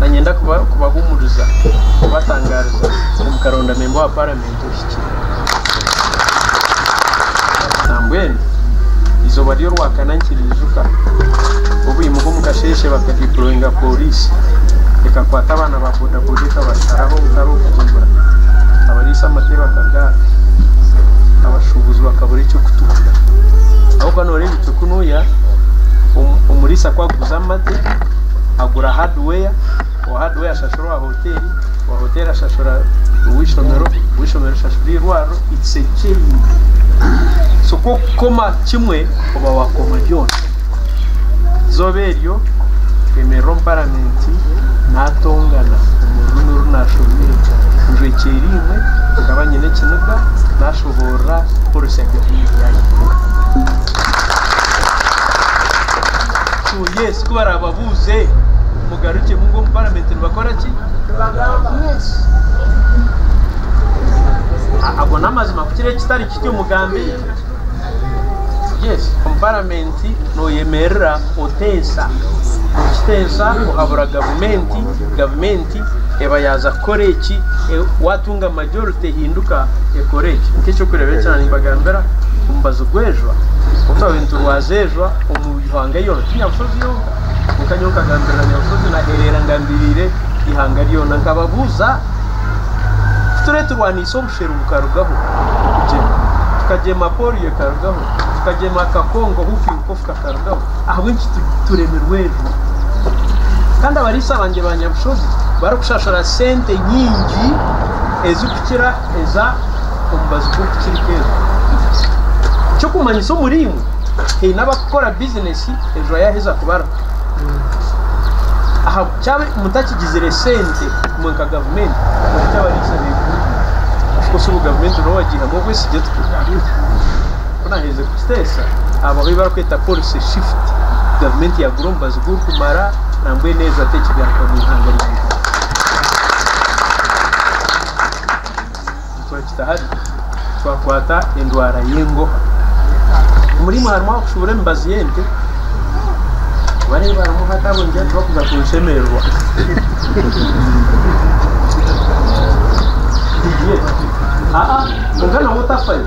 Nanyenda kubahumuriza kubatangariza ngu mukaronda memba wa paramenti ohikire nambwenu eizooba ry'orwakana nikiriijuka obwimuka omu kasheeshe bakadeployinga poriisi ekakwata abaana ba bodaboda ekabatwara omutare okuhumura abariisa amatere bakagaata abashuubuzi bakabura eky'okutunda ahabw'okuba noreeba Kunuya omuriisa ku aguza amate agura hardware owa hardware ashashura owa hotel owa hotel ashashura ow'eishomero ow'eishomero ashashura eirwariro it's a chain so ku okukoma kimwe oba wakoma byona eizooba eryo nkemerera omu parliament natongana omu rurimi oru nashomire ngu ekyo erimwe nkaba nyine ekiniga. Tubuurira kukoresa Bibliya yaitu. So yes, ku baraababuuze mugarukye mungu omu paramenti nibakora ki? A- Ago n'amazima kukira ekitari kityo mugambe yes omu paramenti noyemerera otensa okitensa ohabura gavumenti gavumenti majority eba yaaza kukora eki, waatunga majority ehinduka ekora eki. Nk'eky'okureeba eki ahi nibagambira omubazi gw'ejwa, obu twaba niturwaza ejwa omu ihanga ryona, ti Nyabusozi yonka, kwonka nyowe nkagambirira Nyabusozi nahereera ngambiriire ihanga ryona. Nkababuuza ku tureeturwaniisa obusheru bukarugaho, okugyema, tukagyema polio ekarugaho, tukagyema akakongo, hooping cough. Ahabw'enki turemirwe ebyo kandi abariisa bangye ba nyabushozi barikushashura sente nyingi ezikukira eza omubazi gw'okukirika ezo? Ekyokumanyisa omuriimwe haine abakukora bizinesi ezo yaheza kubarwa ahabu kyaba mutakigizire sente imwe nka gavumenti ahabw'enki abariisa begumbire? Of course obu gavumenti nooba wagiihamu obwesigye tutyo. Ku naaherize kukiteesa, abo abu barikweta policy shift gavumenti yaagura omubazi gw'okumara nambwenu ezo ate ekigaruka omu ihanga rya Uganda. Nituragita hare twakwata endwara y'engoha. Omuri imwe harimu abakushubura emibazi y'ente wareeba harimu hata abo nigira nti bakuza kunshemererwa. Aa, kwonka nabwo tafayo.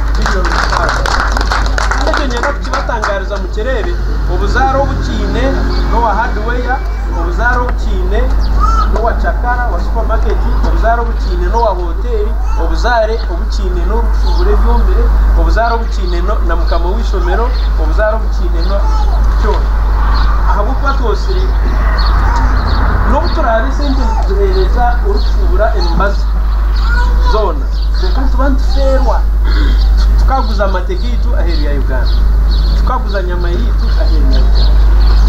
Billions Stars. Kandi ekyo ninyenda kukibatangaariza mukyereere, obuzaare obu kiine n'owa Hardware, obuzaare obu kiine n'owa Cakara, owa Supermarket, obuzaare obu kiine n'owa Hotel, obuzaare obu kiine n'orikushubura ebyomire, obuzaare obu kiine na Mukama w'eishomero, obuzaare obu kiine na kyona. Ahabw'okuba twosire, n'obu turaabe esente nituziheereza orikushubura emibazi zoona. Kwonka nituba nitufeerwa tukaguza amate gaitu aheeru ya Uganda, tukaguza enyama yaitu aheeru ya Uganda.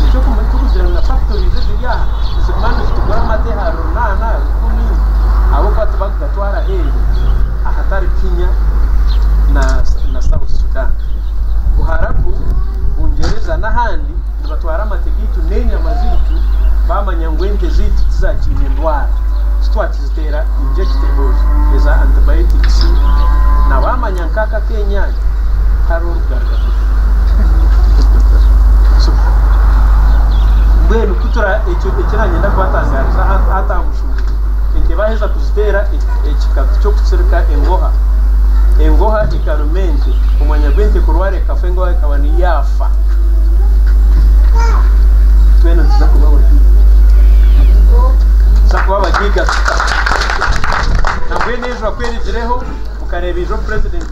Nikyo kimwe turikugira ngu na factories eziri aha niziguma nizitugura amate aha runaana, aha rukumi ahabw'okuba tibarikugatwara aheeru ahatari Kenya na South Sudan. Buharabu, Bungyereza n'ahandi nibatwara amate gaitu n'enyama zaitu baamanya ngu ente zaitu tizaakiine ndwara. Ziteera injectables eza antibiotics na wamanya nka aka akenyanya hariho orugarga so mbwenu kutura ekyo ekiranyenda kubatangariza hata aha mushuuro ente baheza kuziteera ekikatu ky'okutsirika engoha engoha ekaruma ente omwanya gw'ente kurwara ekafa engoha ekaba niyo yaafa twena tuza kubaho Twagyiga tuta? Nambwenu eiju bakwerigireho mukareeba eiju Omupresident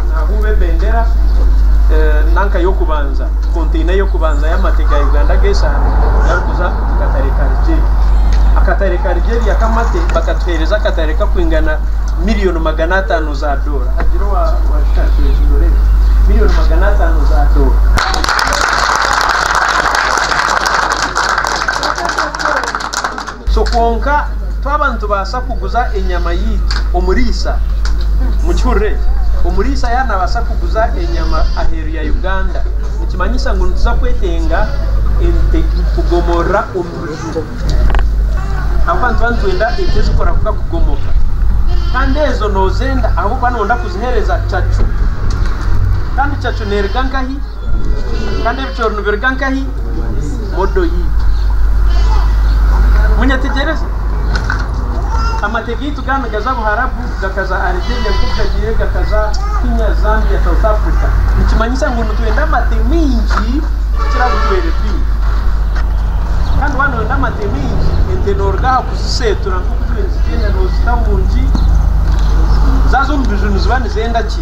nahuuba ebendera nanka y'okubanza, container y'okubanza y'amate ga Uganda g'eshanu garikuza omu katare ka Rigyeri. Akatare ka Rigyeri ak'amate bakatuheereza akatare karikwingana million magana ataano za doora. Haagira owashusha ati eiju ndoremu million magana ataano za doora. So kwonka twaba nitubaasa kuguza enyama yaitu, omuriisa, mukihurire, omuriisa yaaba naabaasa kuguza enyama aheeru ya Uganda, nikimanyisa ngu nituza kwetenga ente kugomorora omu buju ahabw'okuba nituba nitwenda ente ezikora kuka kugomoka. Kandi ezo noozenda ahabw'okuba nooyenda kuziheereza cacu. Kandi cacu neeruga nkahi? Kandi ebicoori nibiruga nkahi? Modo yaitu. Munyetegyereze? Amate gaitu ga nigaza Buharabu, gakaza Algeria, nk'oku gagiire gakaza Kenya, Zambia, South Africa. Nikimanyisa ngu nitwenda amate maingi kukira agu tubaire twine. Kandi waaba nooyenda amate maingi, ente nooruga aha kuziseetura nk'oku tubaire nitugyenda, noozita omu ngi zaazo omu biju niziba nizenda ki?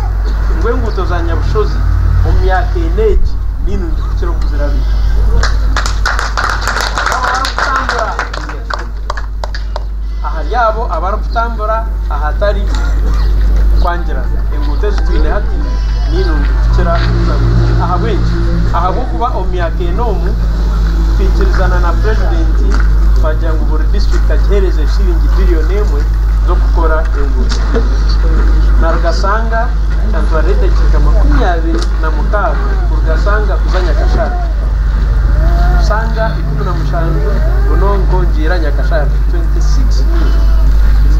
ngu enguuto za Nyabushozi omu myaka ena egi ninungi kukira oku zirabire. Ahari abo abarikutambura ahatari kwangirana, enguuto ezi twine hati ninungi kukira oku zirabire. Ahabw'enki? Ahabw'okuba omu myaka ena omu kuhikiirizana na Purezidenti twagira ngu buri disiturikiti agiheereze shilingi biliyoni emwe z'okukora enguuto. Naruga Sanga kyantwarira edakiika makumi abiri na mukaaga kuruga Sanga kuza Nyakasharara. Sanga ikumi na mushanju Bunonko Ngiira Nyakasharara, 26 mil.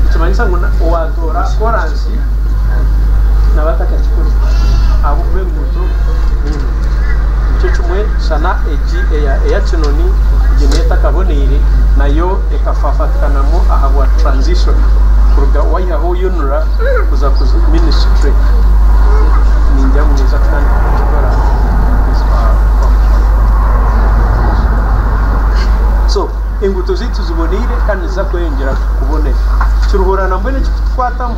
Nikimanyisa ngu na owaatoora koraasi naba atakakikore ahabw'okuba enguuto. Nikyo kimwe, shana egi eya kinoni egi niyo etakaboneire nayo ekafaafatikanamu ahabwa transition kuruga wayihaho UNRA kuza ministry ningira ngu neija kutandika kukikora omukwezi kwa munaana. So enguuto zaitu ziboneire kandi niziza kweyongyera kubonera. Kiruhura na mbwenu ekirikutukwatamu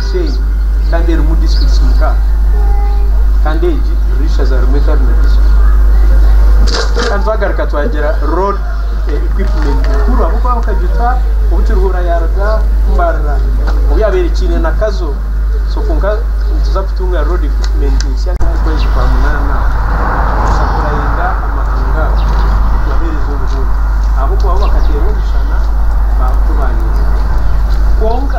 Bushenyi kandi erimu disiturikiti mukaaga kandi egi riri eishaza rimwe etari na disiturikiti kandi twagaruka twagira road equipment nkuru ahabw'okuba bakajuta obu Kiruhura yaaruga Mbarara obu yaabaire ekiine na Kazo so kwonka nituza kutunga road equipment ensya nk'omu kwezi kwa munaana kuza kurayinga amahanga ago kugaheereza obuhunga ahabw'okuba bo bakateerwa omushana baaba ku baayonjo kwonka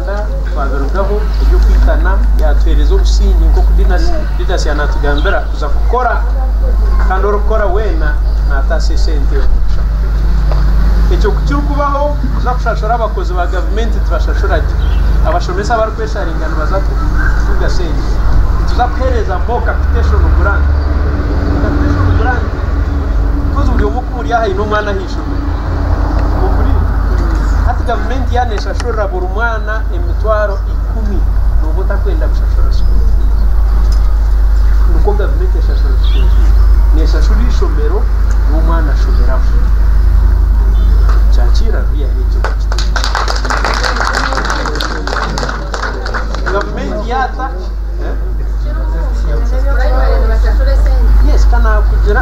Twabirugaho eby'okwitana yaatuheereza obusinge nk'oku Didas yaanatugambira kuza kukora kandi orikukora weena naataasa esente omu kushaho. Ekyo ku kirikubaho kuza kushashura abakozi ba gavumenti tibashashura gye, abashomesa abarikwesharinga nibaza kutunga sente. Nituza kuheereza more capitation grant. Capitation grant because buri omwe Ori aha aine omwana aha ishomero? Ompurire. Hati gavumenti yaaba neeshashurira buri mwana emitwaro ikumi, nooba otakwenda kushashura sukuuru fiizi? Nikwo gavumenti eshashura sukuuru fiizi. Neeshashura eishomero, ngu omwana ashomeraho. Kyakiira rubi yaareeba eki otakitiire. Gavumenti yaata Yes, ka naakugira.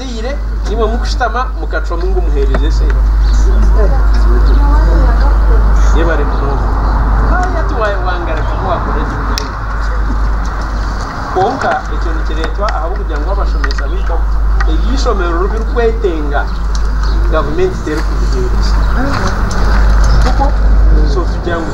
Mwateire nimwe mukushutama mukacwamu ngu muheereze esente. Yebare munonga. Haaya tiwayewangara tiwakora ki munonga. Kwonka ekyo nikireetwa ahabw'okugira ngu abashomesa baitu abu eby'eishomero oru birikwetenga gavumenti terikubiheereza. Tikwo? So tugira ngu.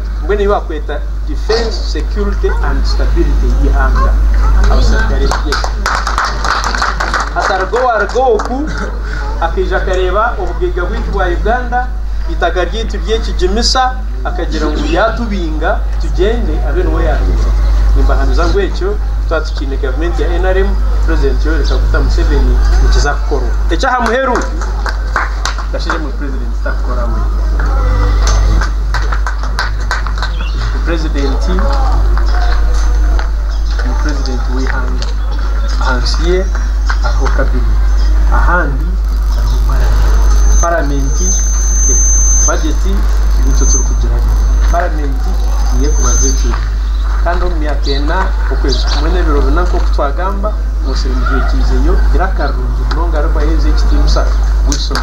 Mbwenu ei barikweta Defence, Security and Stability y'eihanga, abasirikare bye. Hatariho owaaruga oku akaija akareeba obugaiga bwaitu bwa Uganda, eitaka ryaitu ry'ekigimisa, akagira ngu yaatubinga tugyende abe niwe yaatuza. Nimbahamiza ngu ekyo twaba tukiine gavumenti ya nrm, Purezidenti Yoweri Kaguta Museveni, nikiza kukorwa. Eky'aha muheru. President takukora we ni president ni president w'eihanga ahansi ye hariho cabinet ahandi hariho parliament parliament budget nikyo turikugira ngu parliament niyo ekubaza ekiro kandi omu myaka ena okwezi kumwe n'ebiro bina nk'oku twagamba Museveni yaikizeyo ira akarungi munonga arikwaheriza ekitiinisa buri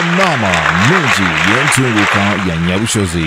Enaama nungi y'entunguuka ya Nyabushozi.